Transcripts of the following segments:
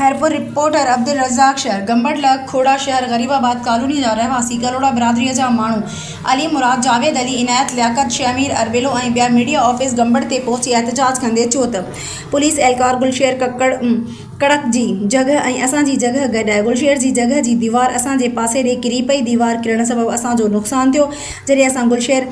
Khairpur, reporter, Abdulrazzaq Shar, Gambat لڳ کوڙا شهر غريب آباد ڪالوني جا رهواسي ڪلهوڙا برادري جا ماڻهو علي مراد، جاويد علي، عنايت، لياقت، شهمير، اربيلو ۽ ٻيا ميڊيا آفيس گمبٽ تي پهچي احتجاج ڪندي چيو ته پوليس اهلڪار گلشير ڪڪڙ ڪڙڪ جي جڳهه ۽ اسان جي جڳهه گڏائي گلشير جي جڳهه جي ديوار اسان جي پاسي ڏي ڪري پئي، ديوار ڪرڻ سبب اسان جو نقصان ٿيو، جڏهن اسان گلشير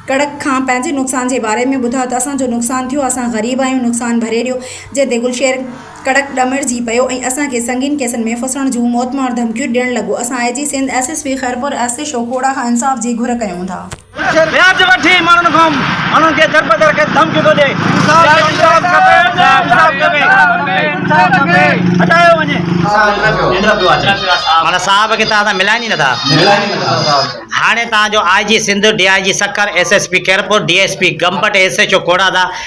ڪڙڪ کان پنهنجي نقصان جي باري ۾ ٻڌا ته اسان جو نقصان ٿيو، اسان غريب آهيون نقصان ڀري ڏيو، جنهن تي گلشير. ڪڙڪ ڏمرجي پيو ۽ اسان کي سنگين ڪيسن ۾ ڦسڻ جون موتمار ڌمڪيون ڏيڻ لڳو. اسان I G Sindh, S S P Khairpur S C شوڪوڙا کان انصاف جي گهر ڪيون ٿا. وياج وٺي ماڻهن کان ماڻهن کي دربدر ڪري ڌمڪيون ٿو ڏئي. انصاف کپي انصاف کپي انصاف کپي هٽايو وڃي. ماڻهن صاحب کي توهان سان ملائين ئي نٿا. هاڻي توهان جو I G Sindh, D I G Sukkur, S S P Khairpur, D S P Gambat, S H O کوڙادا،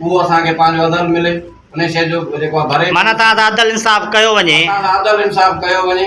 اهو اسان کي پنهنجو عدل ملي انهي شيء جو جيڪو ڀري. معنيٰ تان تان عدل انصاف ڪيو وڃي. تان تان عدل انصاف ڪيو وڃي.